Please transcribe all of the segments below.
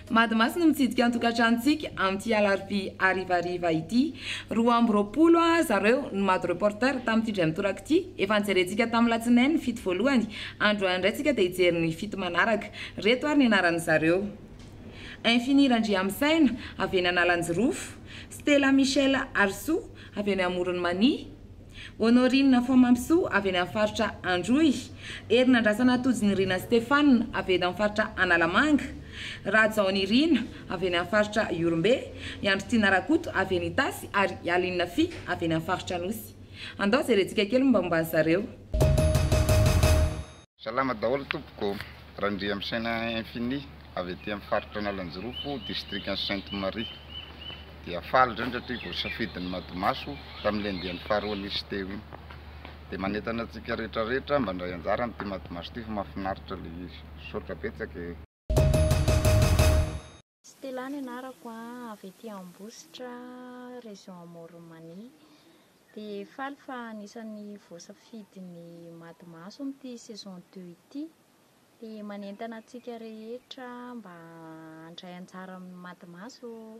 Madimasy no mitsidika ny tokantranontsika amin'ity alarobia harivariva ity. Roa amby roapolo Ora zareo no Mado Reporter tamin'ity indray mitoraka ity. Efa nijerentsika tamin'ny latsinainy ny fito voalohany, androany indray isika dia hijery ny fito manaraka. Ireto ary ny anaran'izareo. Infini Randriamisaina avy eny Analanjirofo, Stella Michelle Harisoa avy eny Amoron'i Mania, Honorine Fomampisoa avy eny amin'ny faritra Androy, Herinandrasana Tojonirina Stephane avy eny amin'ny faritra Analamanga, Rajaonirina avy eny amin'ny faritra Ihorombe, i Andritiana Rakoto avy eny Itasy ary i Aline Fy avy eny amin'ny faritra Anosy. Andao jerentsika kely ny mombamomba an'i zareo. Salama daholo tompoko, Randriamisaina Infini avy aty amin'ny faritra Analanjirofo, distrikan'i Sainte Marie. Dia faly indrindra satria voasafidin'ny Madimaso tamin'ilay andiany faharoa nisy teo iny. Dia manentana antsika rehetra rehetra mba handray anjara amin'ity Madimaso ity fa mahafinaritra ilay izy. Misaotra betsaka e! Stella ny anarako a, avy ety Ambositra, région Amoron'i Mania. Dia faly fa anisan'ny voasafidin'ny Mady Maso amin'ity saison deux ity. Dia manentana antsika rehetra mba handray anjara amin'ny Mady Maso ô!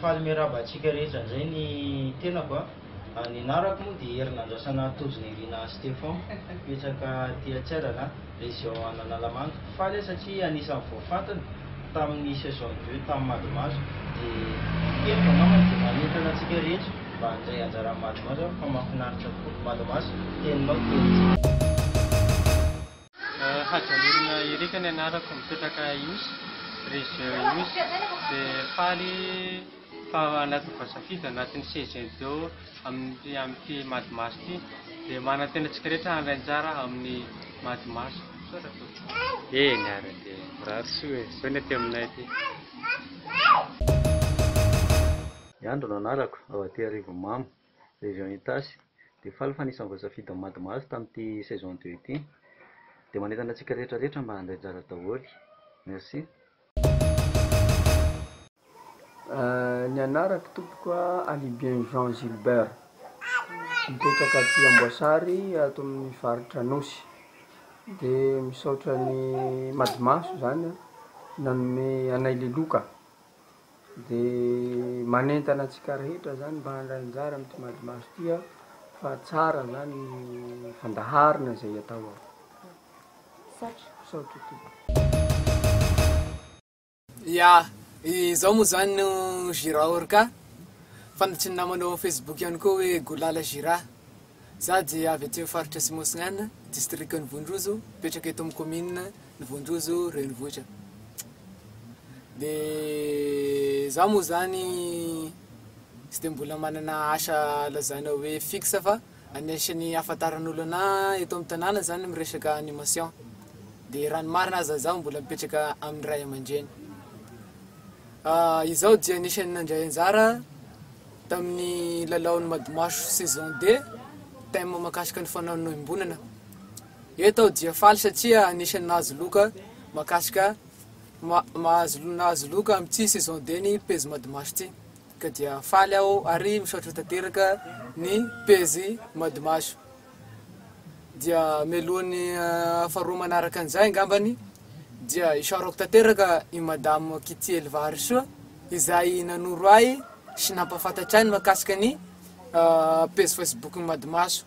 Faly miarahaba antsika rehetra indray ny tenako a! Ny anarako moa dia Herinandrasana Tojo Nirina Stephon, mipetraka aty Antsiarana, région an'Analamanga. Faly aho satria anisan'ny vao fantany tamin'ny saison de jeu tamin'ny Madimaso dia heiko angambany dia manentana antsika rehetra mba handray anjara amin'ny Madimaso aho fa mahafinaritra tokoa Madimaso, teninao tenintsika. Hajanirina Eric ny anarako mipetraka Ihosy, région Ihosy, dia faly fa anatin'ny voasafidy anatin'ny CGDIO amin'ity amin'ity Mad Mass ity dia manantena antsika rehetra handray anjara amin'ny Mad Mass. Misaotra tompoko. Eny ary dia mirary soa e, izao ny aty aminay aty. Andry no anarako, ao aty Arivomamo. Région Itasy, dia faly fa anisan'ny voasafidy amin'ny Mad Mahazo tamin'ity saison deux ity. Dia manentana antsika rehetra rehetra mba handray anjara daholo. Merci. Ny anarako tompoko a Alibian Jean Gilbert, mipetraka aty Amboasary ato amin'ny faritra Anosy, de misaotra ny Mad Mahazo zany nanome anay le loka. Dia manentana antsika rehetra zany mba handray anjara amin'ity madimaso ity aho fa tsara zany ny fandaharana izay atao ao. Misaotra. Misaotra tompoko. Ya, izao moa zany no Gira Orca, fantatry ny namana ao Facebook ihany koa hoe Golala Gira. Za dia avy aty amin'ny faritra Atsimo Atsinanana, distrikan'i Vonrozo, mipetraka eto amin'ny kaominina ny vontozo renivohitra de za moa zany tsy de mbola manana asa lazaina hoe fixe fa anisany ahafantaran'olo ana eto amin'ny tanàna zany miresaka animation de raha ny marina aza za mbola mipetraka amin'ny ray aman-dreny izaho dia anisany nandray anjara tamin'ny lalaon'ny madimaso saison deux thème mahakasika ny fanaonoim-bolana Eto aho dia faly satria anisan'ny nahazo loka mahakasika mahazo nahazo loka amin'ity saison deux ny pejy Madimash ity ka dia faly aho ary misaotra tanteraka ny pejy Madimash dia mialohan'ny faharoa manaraka an'izay angambany dia isaorako tanteraka i Madame Kitty Helvarisoa izay nanoro ahy sy nampahafantatra ahy ny mahakasika ny pejy Facebook-n'i Madimash.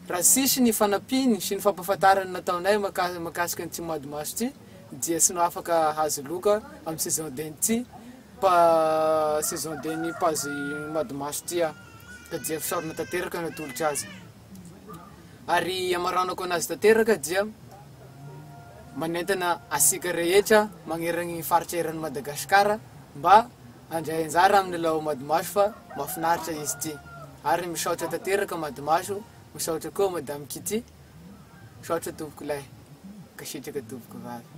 Raha tsisy ny fanampiny sy ny fampahafantarana nataonay mahakasika an'ity mois de mars ity dia tsy afaka hahazo loka amin'ny saison d'en'ity saison d'en'ny page mois de mars ity aho ka dia fisaorana tanteraka no atolotro azy ary amaranako anazy tanteraka dia manentana antsika rehetra magnerana ny faritra eran'i Madagasikara mba Handray anjara amin'ny Lao Madimaso fa mafinaritra izy ity ary misaotra tanteraka Madimaso misaotra koa Madame Kitty misaotra tompoko lahy mankasitraka tompoko vavy.